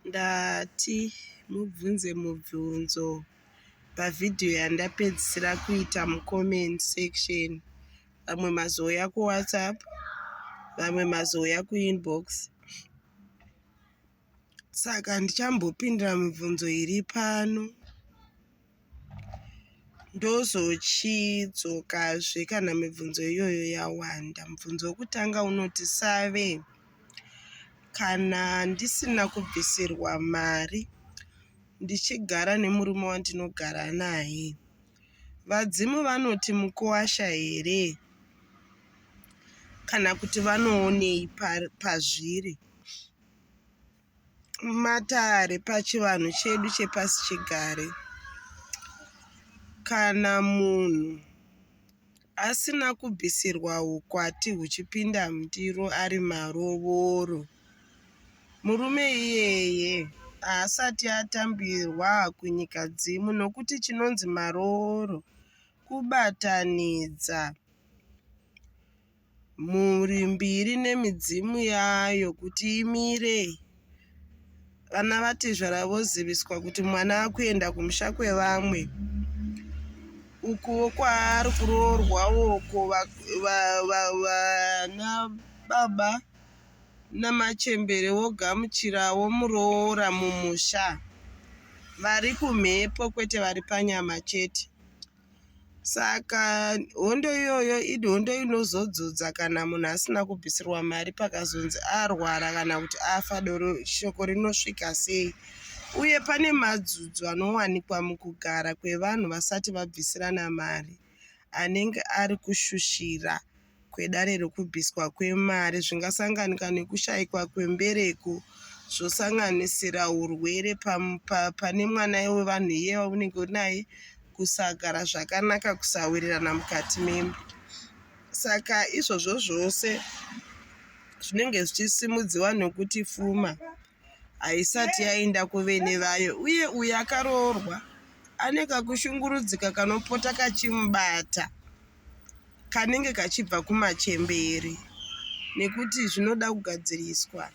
Ndati mubvunze mubvunzo pavideo yandapedzisira kuita mucomment section. Vamwe mazouya kuwhatsapp, vamwe mazouya kuinbox. Saka handichambopindira mibvunzo iri pano. ndozochidzokazve kana mibvunzo iyoyo yawanda. Mubvunzo wokutanga unoti save kana ndisina kubvisirwa mari ndichigara nemurume wandinogara naye vadzimu vanoti mukuwasha here kana kuti vanoonei pazviri pa Matare pachivanhu chedu chepasi chigare, kana munhu asina kubvisirwa ukwati huchipinda mundiro ari marovoro, murume iyeye haasati atambirwa kunyikadzimu nokuti chinonzi marovoro kubatanidza. Mhuri mbiri nemidzimu yayo kuti imire. Vana vatezvara voziviswa kuti mwana akuenda kumusha kwevamwe. Ukuwo kwaari kuroorwa uko vana baba namachembere vogamuchirawo muroora mumusha. Vari kumhepo kwete vari panyama chete. saka hondo iyoyo idi hondo inozodzodza kana munhu asina kubvisirwa mari pakazonzi arwara kana kuti afa doro shoko rinosvika sei uye pane madzudzo anowanikwa mukugara kwevanhu vasati vabvisirana mari anenge ari kushushira kwedare rekubviswa kwemari zvingasanganika nekushaikwa kwembereko zvosanganisira urwere pane mwana wevanhu iye waunenge uri naye kusagara zvakanaka kusawirirana mukati memba saka izvozvo zvose zvinenge zvichisimudziwa nokuti fuma haisati yaenda kuvene vayo uye uyo akaroorwa ane kakushungurudzika kanopota kachimubata kanenge kachibva kumachembere nekuti zvinoda kugadziriswa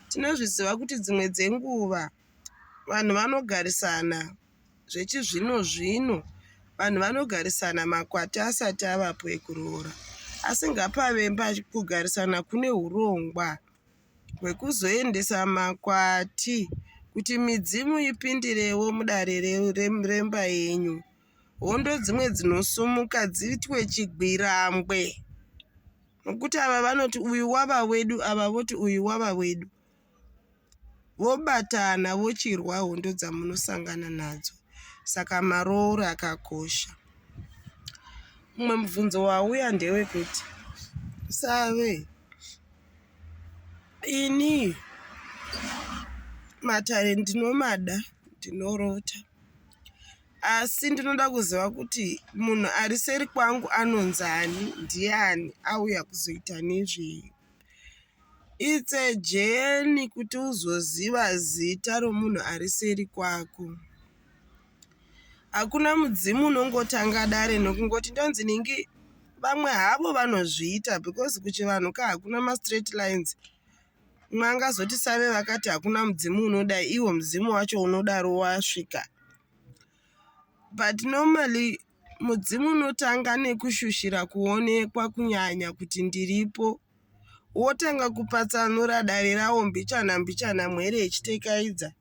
tinozviziva kuti dzimwe dzenguva vanhu vanogarisana zvechizvino zvino vanhu vanogarisana makwati asati avapo ekuroora asi ngapavemba kugarisana kune urongwa hwekuzoendesa makwati kuti midzimu ipindirewo mudare remba yenyu. Hondo dzimwe dzinosumuka dziitwe chigwirangwe nokuti ava vanoti uyu wava wedu ava voti uyu wava wedu. Vobatana vochirwa hondo dzamunosangana nadzo. Saka marooro akakosha. Mumwe mubvunzo wauya ndewekuti save Ini matare ndinomada ndinorota asi ndinoda kuziva kuti munhu ari seri kwangu anonzani ndiani auya kuzoita nezvei its a journey kuti uzoziva zita romunhu ari seri kwako. Hakuna mudzimu unongotanga dare nokungoti ndonzi ningi vamwe havo vanozviita because kuchivanhu ka hakuna mastraight lines umwe angazoti save vakati hakuna mudzimu unoda iwo mudzimu wacho unodaro wasvika but normally mudzimu unotanga nekushushira kuonekwa kunyanya kuti ndiripo wotanga kupatsanura dare rawo mbichana mbichana mwere ichitekaidza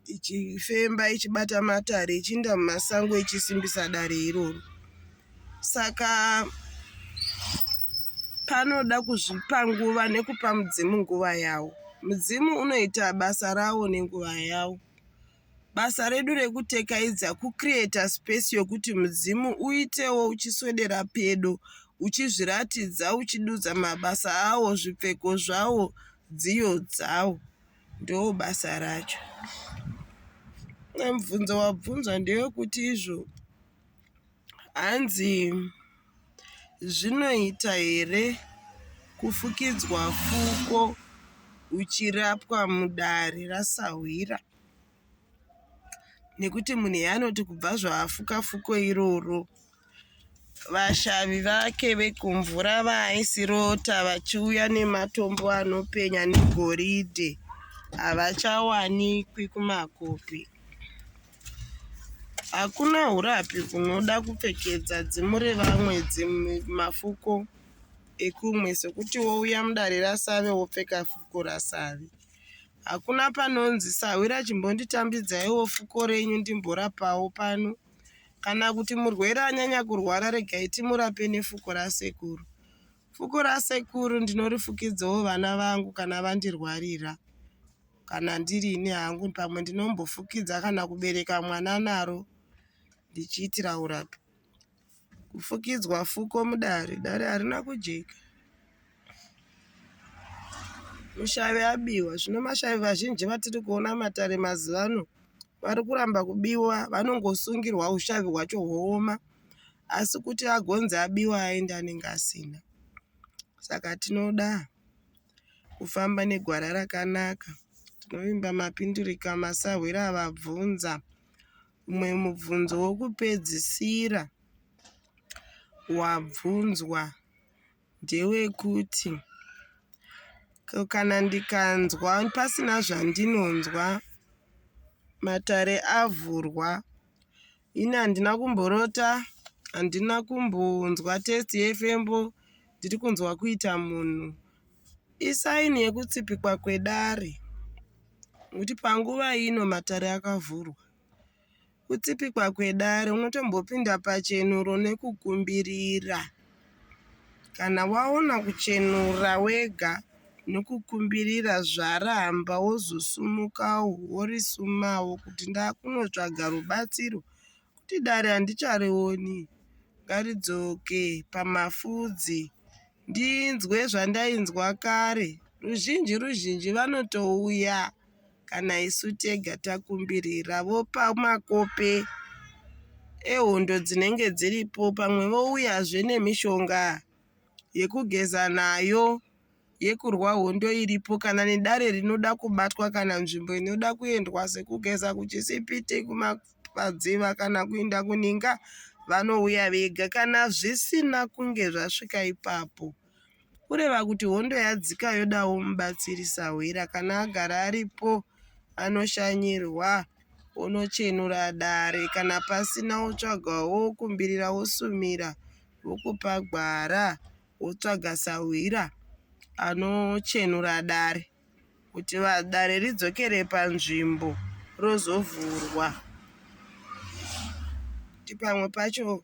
ichifemba ichibata matare ichiinda mumasango ichisimbisa dare iroro saka panoda kuzvipa nguva nekupa mudzimu nguva yawo mudzimu unoita basa rawo nenguva yawo basa redu rekutekaidza kucreata space yokuti mudzimu uitewo uchiswedera pedo uchizviratidza uchidudza mabasa awo zvipfeko zvawo dziyo dzawo Ndoo basa racho. Mubvunzo wabvunzwa ndewekuti izvo hanzi zvinoita here kufukidzwa fuko uchirapwa mudare rasahwira. nekuti munhu anoti kubva zvaafuka fuko iroro vashavi vake vekumvura vaaisirota vachiuya nematombo anopenya negoridhe havachawanikwi kumakopi. Hakuna hurapi hunoda kupfekedza dzimu revamwe dzimwe mafuko ekumwe sekuti wouya mudare rasave wopfeka fuko rasave. Hakuna panonzi sahwira chimbonditambidzaiwo fuko renyu ndimborapawo pano. Kana kuti murwere anyanya kurwara regai timurape nefuko rasekuru. Fuko rasekuru ndinorifukidzawo vana vangu kana vandirwarira. Kana ndiri ini hangu pamwe ndinombofukidza kana kubereka mwana naro ndichiitira urapi. Kufukidzwa fuko mudare, dare harina kujeka. Mushavi abiwa, zvino mashavi vazhinji vatiri kuona mumatare mazuva ano vari kuramba kubiwa vanongosungirwa ushavi hwacho hwooma asi kuti agonzi abiwa aende anenge asina. Saka tinoda kufamba negwara rakanaka. Tinovimba mapinduriko amasahwira avabvunza. Umwe mubvunzo wokupedzisira wabvunzwa ndewekuti ko kana ndikanzwa pasina zvandinonzwa matare avhurwa ini handina kumborota handina kumbonzwa test yefembo ndiri kunzwa kuita munhu Isaini yekutsipikwa kwedare nekuti panguva ino matare akavhurwa. Kutsipikwa kwedare unotombopinda pachenuro nekukumbirira. Kana waona kuchenura wega nekukumbirira zvaramba wozosumuka worisumawo kuti ndakunotsvaga rubatsiro kuti dare handicharioni ngaridzoke pamafudzi ndinzwe zvandainzwa kare ruzhinji ruzhinji vanotouya kana isu tega takumbirira vopa makope ehondo dzinenge dziripo pamwe vouyazve nemishonga yekugeza nayo yekurwa hondo iripo kana nedare rinoda kubatwa kana nzvimbo inoda kuendwa sekugeza kuchisipiti kuma padziva kana kuinda kuninga vanouya vega kana zvisina kunge zvasvika ipapo kureva kuti hondo yadzika yodawo mubatsiri sahwira kana agara aripo anoshanyirwa onochenura dare kana pasina wotsvaga wokumbirira wosumira wokupa gwara wotsvaga sahwira anochenura dare kuti dare ridzokere panzvimbo rozovhurwa kuti pamwe pacho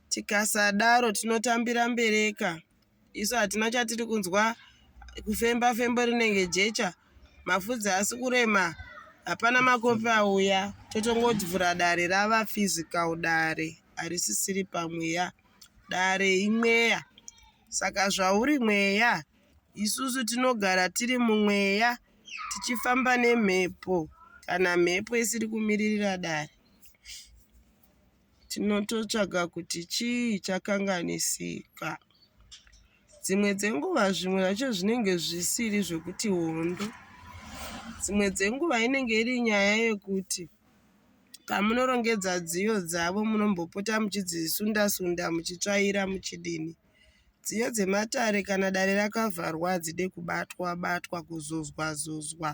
tikasadaro tinotambira mbereka isu hatina chatiri kunzwa kufemba fembo rinenge jecha mafudzi haasi kurema hapana makopi auya totongovhura dare rava physical dare harisisiri pamweya dare imweya saka zvauri mweya Isusu tinogara tiri mumweya tichifamba nemhepo kana mhepo isiri kumiririra dare tinototsvaga kuti chii chakanganisika. Dzimwe dzenguva zvimwe zvacho zvinenge zvisiri zvekuti hondo. Dzimwe dzenguva inenge iri nyaya yekuti pamunorongedza dziyo dzavo munombopota muchidzisunda sunda muchitsvaira muchidini. Dziyo dzematare kana dare rakavharwa hadzide kubatwa batwa kuzozwa zozwa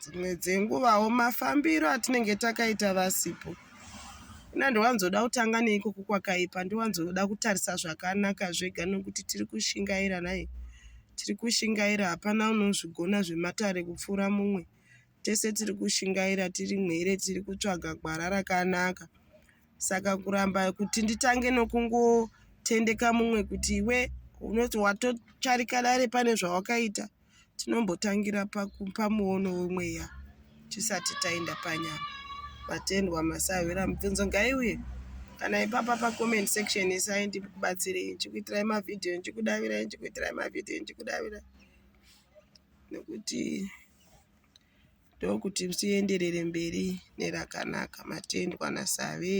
dzimwe dzenguvawo mafambiro atinenge takaita vasipo ina ndowanzoda kutanga neikoko kwakaipa ndowanzoda kutarisa zvakanaka zvega nokuti tiri kushingaira nhai tiri kushingaira hapana unozvigona zvematare kupfuura mumwe Tese tiri kushingaira tiri mhere tiri kutsvaga gwara rakanaka saka kuramba kuti nditange nokungotendeka mumwe kuti iwe unoti watotsvarika dare pane zvawakaita tinombotangira pamuono wemweya tisati taenda panyama vatendwa masahwira mibvunzo ngaiuye kana ipapa pacomment section isai ndikubatsirei ndichikuitirai mavhidhiyo ndichikudavirai ndichikuitirai mavhidhiyo ndichikudavirai nekuti ndokuti tienderere mberi nerakanaka matendwa naSave.